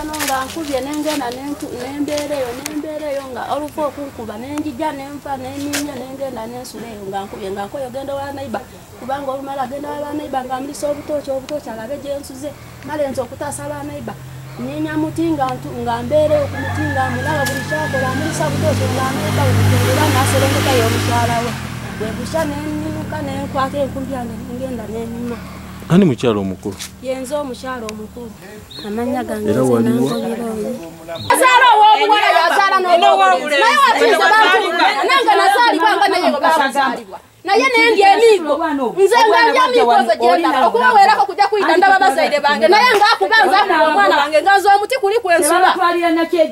eno nga nkubye nengenda nembeera eyo nembeera eyo nga olufu okunkuba nenjija nenfa neninya nengenda nensula eyo nga nkubye nga nkoyo genda wa naiba kubanga olumala genda wa banaiba nga mlisa obutooki obutooki alabe gyensuze male nze okutaasa banaiba ninya muti nga mbeera eyo ku muti nga mulaba buli kyakola mlisa butooki nga naiba era naserengeka yo omukyala we bwebusha nenimuka nenkwata enkulu yange nengenda nenima ani mukyalo omukulu yenze omukyalo omukulu amannya gange era waliwo azaala ow'obuwala yazaala n'ow'obulezi naye wakiza bantu nange nazaalibwa nga naye nga baabazaalibwa naye nendya emiigo nze ngandya emiigo nze gyendaba okubaweerako kujja kuyita ndaba bazaire bange naye ngaakuba nze akuba omwana wange nga nze omuti kuli kwensula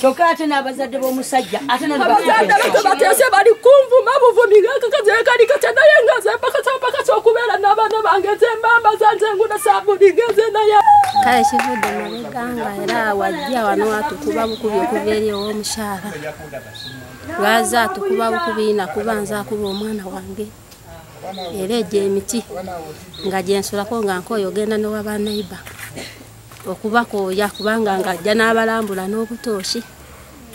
kyokka ate n'abazadde b'omusajja ate abazadde beto bateese bali kunvuma buvumi kakazekali katya naye nga zempaka zempaka kyokubeera n'abaana bange zembamba zanze nguna sabuni ngeze naye kale kivudde mabega nga era wajja wano watukuba bukubi okuva eri ow'omukyala lwaza atukuba bukubi nakuba nze akuba omwana wange era egyo emiti nga gyensulako nga nkoyo ogenda nowa banaiba okubakooya kubanga nga ajja n'abalambula n'obutooshi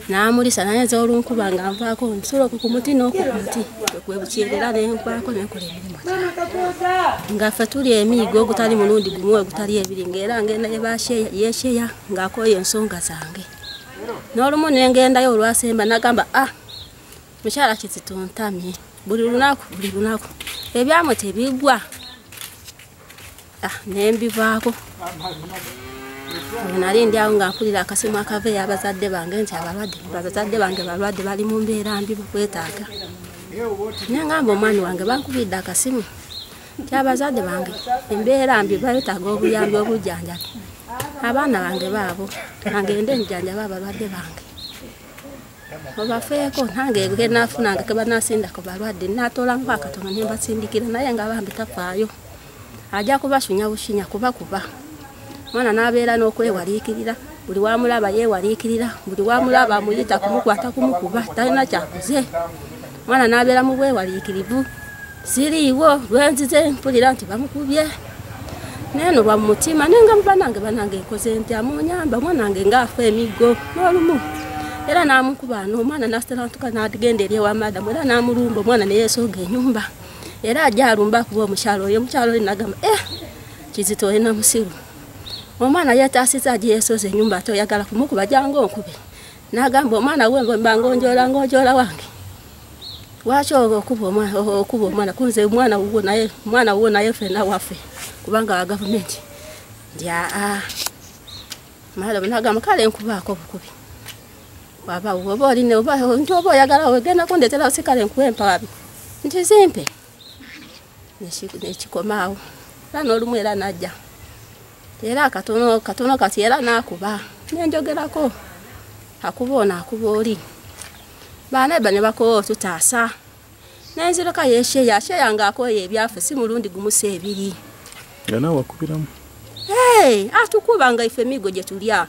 n'amulisa naye nze olunkuba nga nvaako nsula oku ku muti n'oku ku muti kwebukyerera ne nkwako ne nkola emirimu nga ffe tuli emiigo ogutali mulundi gumu ogutali ebiri ng'era ngenda yesheya ng'akooya ensonga zange n'olumu ne ngendayo olwasemba nagamba a ah, mukyala kizituntamye buli lunaku buli lunaku ebyamu tebigwa ah, nembivaako nali ndi awo nga mpulira akasimu akava eyo abazadde bange nti abalwadde abazadde bange balwadde bali mu mbeera mbi bakwetaaga naye ngamba omwani wange bankubidde akasimu ti abazadde bange embeera mbi baetaaga obuyambi obujjanjabi abaana bange baabo angende njanjaba abalwadde bange obafeeko nange ge nafunanga ke banasinda ku balwadde natoolamu akatono ne mbasindikira naye nga bambi tafaayo ajja kubasunya bushinya kuba kuba mwana n'abeera n'okwewaliikirira buli wamulaba yeewaliikirira buli wamulaba amuyita kumukwata kumukuba talina kyakuze mwana n'abeera mu bwewaliikirivu siriiwo lwenzize mpulira nti bamukubye neno lwa mutima nenga mubanange banange nkoze ntya munyamba mwanange ngaafa emiggo n'olumu era n'amukuba n'omwana n'asitalantuka n'agenda eri ewa madamu era n'amulumba omwana ne yeesooga enyumba era ajja alumba akuba omukyalo oyo omukyalo oyo nagamba e eh, kizito oli na musiru omwana yeetaasiza agye yeesooza enyumba ate oyagala kumukuba jangu onkube nagamba omwana we ngomba ngonjola ngonjola wange lwaki okuba omwana okuba omwana kunze omwana wuwo naye omwana wuwo naye fena waffe kubanga wa gavumenti ndi aa madam nagamba kale nkubaako obukubi waba oba oline nti oba oyagala wegendako ndetera osikale nkuwe empawabi nti zimpe nekikomaawo era n'olumu era najja era katono katono kati era n'akuba nenjogerako akuba ono akuba oli baneba ne bakowa otutaasa nenziroka yesheya sheya nga akoye ebyafu si mulundi gumusa ebiri nga nawe akubiramu atukuba nga ife migo gye tulya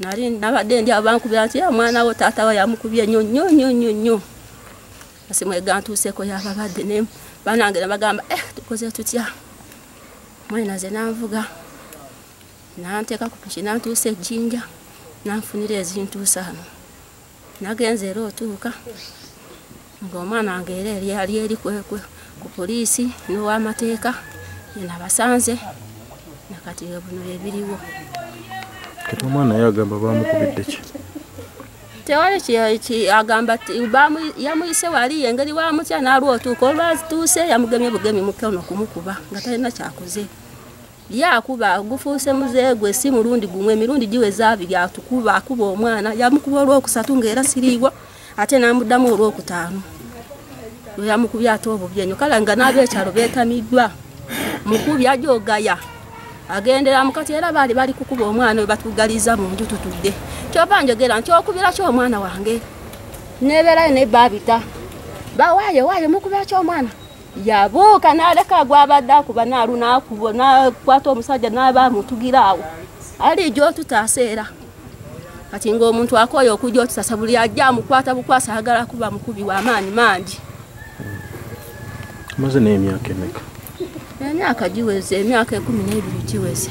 nali nabadde ndi abankubira nti omwana wo taata wa yamukubye nyo nyo nyo nyo nyo asimu egantuuseko yababadde ne banange nabagamba eh tukoze tutya mwena ze nanvuga nanteeka ku piki nantuusa ejjinja nanfunira ezintuusa ano nagenze era otuuka ng'omwana wange era eryali eri kwekwe ku poliisi n'owamateeka yenabasanze nakati buno ebiriwo kati omwana ye agamba bamukubidde ki tewali agamba yamuyise wali engeri wamutya nalwa otuuka olwatuuse yamugemye bugemi mukono kumukuba nga talina kyakoze lyakuba gufuuse muze gwe si mulundi gumwe emirundi giweza abiri atukuba akuba omwana yamukuba olwokusatu ngaera siriiwo ate namuddamu olwokutaano lweyamukubye ate obubi enyo kale nga n'abeekyalo beetamiddwa mukubi ajogaya agendera mukati era baali bali kukuba omwana we batugaliza mu nju tutudde kyova njogera nti okubira ki omwana wange nebeerayo naye baabita bawaayo waayo mukubira ki omwana yabuuka n'aleka gwabadde akuba naalunakubo nakwata omusajja naaba amutugira awo ali gyotutaasa era kati ngaomuntu akooye okujja otusasa buli ajja amukwata bukwasa agala kuba mukubi wamaanyi mangi maze naye emyaka emeka emyaka giweze emyaka ekumi n'ebiri giweze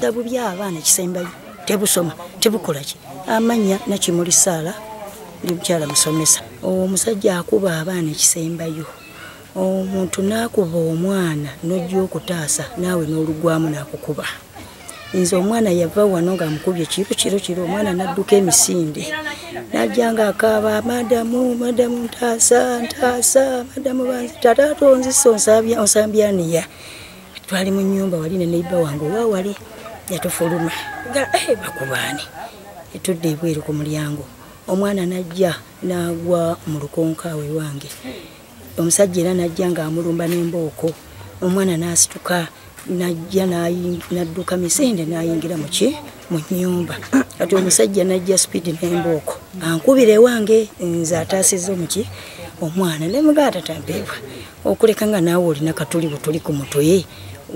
dabu byabaana ekisembayo tebusoma tebukolaki amanya nakimuli saala ndi mukyala musomesa omusajja akuba abaana ekisembayo omuntu nakuba omwana nojja okutaasa naawe nolugwamu nakukuba nze omwana yava wano nga amukubye kiro kiro kiro omwana nadduka emisinde najja nga akaaba madamu madamu ntaasa ntaasa madamu banzi tata tonzisa onsambyaniya twali mu nyumba wali ne neiba wange owa wali yatufuluma nga eh, bakubaani etudde ebweru ku mulyango omwana najja nagwa mu lukonka we wange omusajja era najja ng'amulumba n'embooko omwana n'asituka najja nadduka misinde n'ayingira muki mu nyumba kati omusajja najja sipiidi n'embooko ankubira ewange nze ataasiza omuki omwana ne mugaa tatampeebwa okuleka nga naawe olina katuli butuli ku mutwe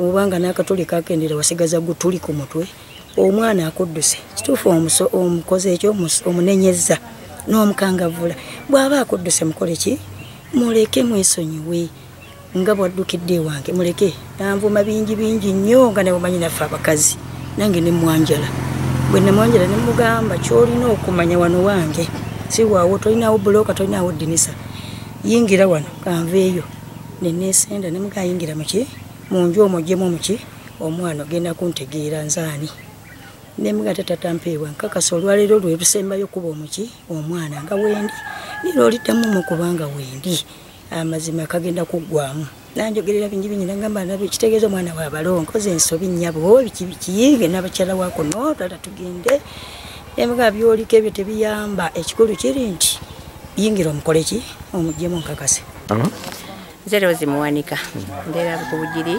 obanga n'akatuli kakendera wasigaza gutuli ku mutwe omwana akudduse kituufu omukoze ekyo omunenyezza n'omukangavvula bw'aba akudduse mukole ki muleke mwesonyiwe nga bwaddukidde ewange muleke nanvuma bingi bingi nnyo nga ne bumanyi naffe abakazi nange ne mwanjala bwe nemwanjala ne mugamba ky'olina okumanya wano wange si waawo tolinawo bulooka tolinawo ddinisa yingira wano kanveeyo neneesenda ne mugayingira muki mu nju omwo jemu omuki omwana ogenda kuntegeera nzaani nemuga tatatampeebwa nkakasa olwaleero lwerusembayo kuba omuki omwana nga wendi nira oliddamu mu kubanga wendi amazima kagenda kuggwamu nanjogerera bingi bingi nagamba nabo ekitegeeza omwana wabalo nkoze ensobi nyabo biki bikiyiige nabakyala wakuno tata tugende emuga byoliko ebyo tebiyamba ekikulu kiri nti yingira omukoleki omuggyemu nkakase nze rozi muwanika mbeera bukubugiri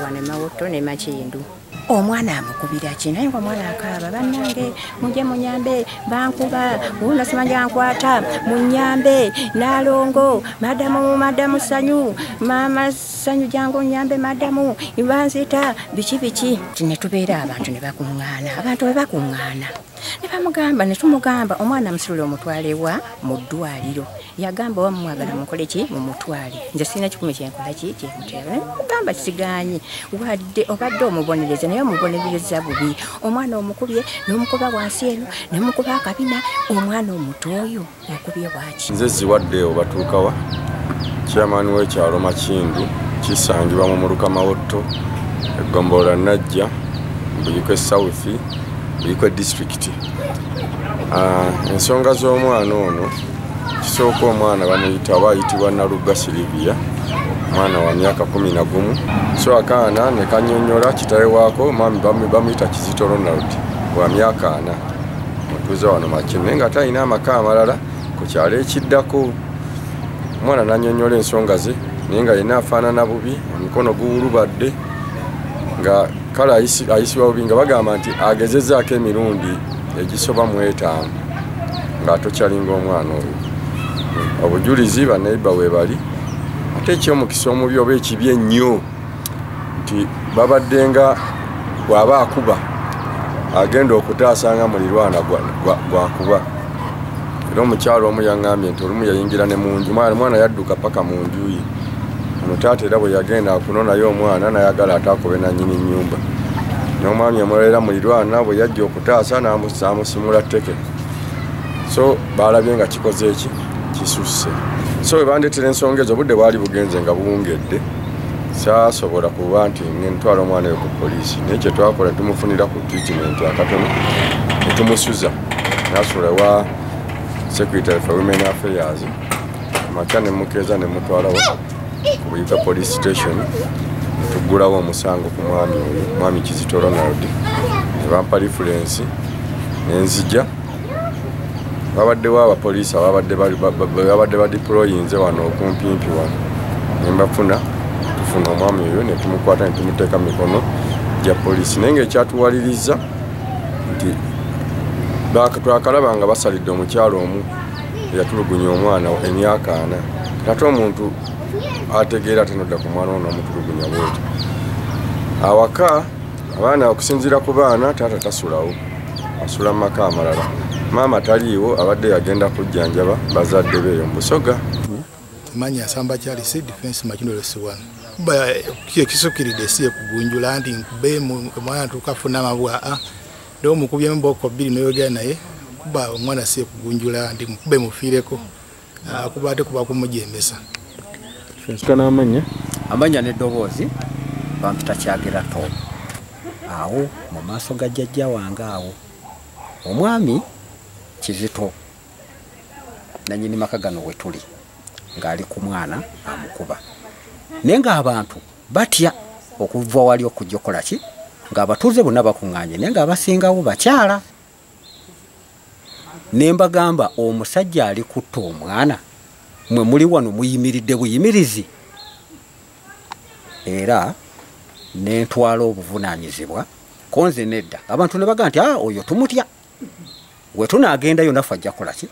wane mawotto ne makiyindu omwana amukubira ki naye nga omwana akaaba bannange muje munyambe bankuba wuuno simanja nkwata munyambe nalongo madamu madamu sanyu maama sanyu jangu nyambe madamu ibanzita biki biki tinetubeera abantu ne bakuŋŋaana abantu bwe bakuŋŋaana ne bamugamba ne tumugamba omwana musitule omutwale wa mu ddwaliro yagamba oba mumwagala mukole ki mumutwale nze sirina kikumi kyenkola ki kyemutera mugamba kisigaanyi wadde obadde omubonereza naye omubonereza bubi omwana omukubye n'omukuba wansi eno nemukuba akabina omwana omuto oyo akubye bwaki nze ziwadde obatuukawa kyamaani w'ekyalo makindu kisangibwa mu muluka mawotto eggombolola najja mbuyikwe south mbuyikwe disitulikiti ah, ensonga z'omwana ono kisooka omwana bamuyita aba ayitibwa nalugga sirivia omwana wa myaka kumi na gumu so akaana ne kanyonyola kitawe waako mami bamuyita kizito ronald wa myaka ana mutuuze wano makye naye nga ate alina amaka amalala ku kyalo ekiddako omwana nanyonyola ensonga ze naye nga yena afaanana bubi omukono guwulubadde nga kale ayisibwa bubi nga bagamba nti agezezaako emirundi egisoba mu etaano ng'atokyalinga omwana oyo obujulizi banaiba webali ate ekyomukisa omubi oba ekibi ennyo nti babaddenga bw'aba akuba agenda okutaasa nga mulirwana gwakuba era omukyalo omu yaŋambye nti olumu yayingira ne munju mwana mwana yadduka paka mu nju ye onotaata era bwe yagenda akunonayo omwana nayagala atakobe nanyini nyumba nomwami omulolera mulirwana bwe yajja okutaasa namusimula teke so balabye nga kikoze eki kisusse so webandetera ensonga ezo obudde bwali bugenze nga buwungedde saasobola kuba nti ngentwala omwana oyo ku poliisi naye kyetwakola tumufunira ku treatment akatono netumusuza nasobola wa secretary for women affairs makya nemukeeza nemutwalawo ku buyika police station netuggulawo omusango ku mwami oyo mwami kizito ronald nebampa lifulensi nenzija babaddewo abapoliisi ababadde badiployinze wano okumpimpi wano nembafuna tufuna omwami oyo netumukwata netumuteeka mikono gya poliisi naye nga ekyatuwaliriza nti twakalaba nga basalidde omukyalo omu eyatulugunya omwana emyaka ana ate omuntu ategeera tenodda ku mwana ono omutulugunya bwoti awaka abaana okusinziira ku baana taata tasulawo asula mu maka amalala maama taliiwo abadde yagenda kujjanjaba bazadde beeyo mu busoga manyi asamba kyali si defense makinolesiwano ekisukiride si ekugunjula nti nkube omwana tukafuna amabwa a ah, nde omukubyemu booko bbiri noyogera naye kuba omwana si ekugunjula nti mukube mufiireko ah, kuba ate kuba kumujembesa amanya amanya neddoboozi bampita kyagira to awo mu maaso ga jjajja wange awo omwami kizito nanyini maka gano wetuli ng'ali ku mwana amukuba naye ng'abantu batya okuva wali okujja okukola ki ng'abatuuze bonna bakuŋŋaanye naye ng'abasingawo bakyala ne mbagamba omusajja ali kutta omwana mwe muli wano muyimiridde buyimirizi era nentwala obuvunaanyizibwa konze nedda abantu ne baga nti a ah, oyo tumutya we tunaagendayo naffe ajja kola ki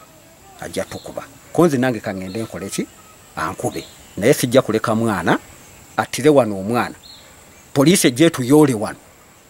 ajja tukuba konze nange kaŋŋende nkole ki ankube naye sijja kuleka mwana attire wano omwana poliisi ejja etuyoole wano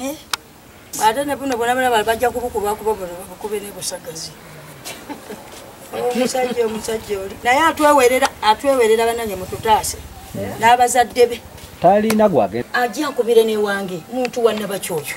Eh? ate ne buno bona bona bajja kubukuba kuba bona bakube ne busagazi omusajja omusajja oli naye atwewerera atwewerera bananye mututaase eh? n'abazadde be talina gwagenda ajja nkubire newange muntu wanna bakyoyo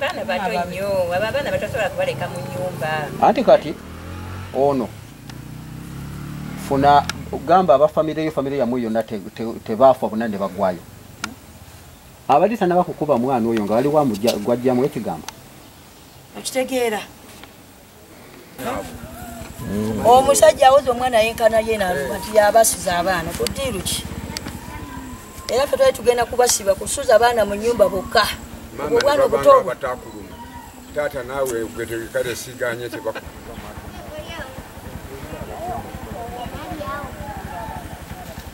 baana bato nnyo abo abaana batasobola kubaleka mu nyumba anti kati ono funa gamba abafamire yo famire yamwe yonna tebaafa bona ne bagwayo abali tanabakukuba mwana oyo nga waliwo gwajjamu ekigambo okitegeera omusajja awoza omwana yenkana yenati yabasuza abaana kudiiru ki era fe twali tugenda kubasiba kusuza abaana mu nyumba bokka obwana obutobu taata naawe gwetekale siganye tebak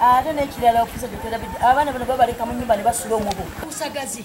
ate nekirala okusa gyetwerabidde abaana bano babaleka mu nyumba ne basula omubu usagazi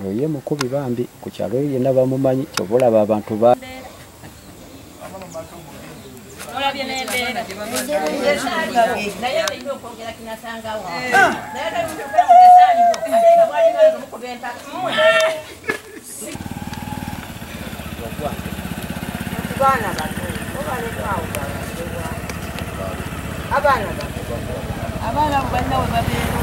Oyo ye mukubi bambi ku kyalo eyo yenna bamumanyi kyova olaba abantu ba abaana abaana balina webabeera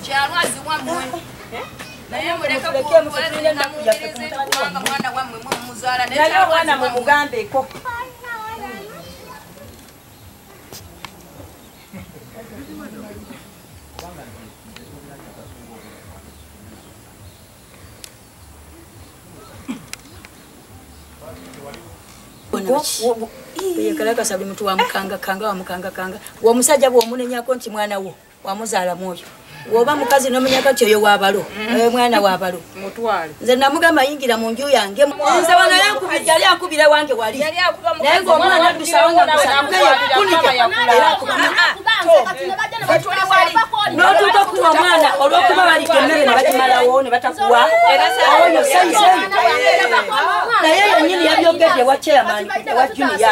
kyalwazi wamwe naye muleke kuwulira na muwulirize kubanga mwana wamwe mwe muzala naye awana mu mugambe ko Yekala kasabi mtu wa mkanga kanga wa mkanga kanga wa musaja wa mune nyako nchi mwana wo. wamuzaala mwoyo woba mukazi nomenya kati oyo wabalo mm. eh, mwana wabalo nze namugamba ayingira mu nju yange nze wano yali akubira wange wali naye ngaomwana adusawangakunotuuka kuwa omwana olwokuba balidde emmere nebakimalawo nebatakuwa oyo saizei naye yenyini yabyogedde wa chairman wa juniya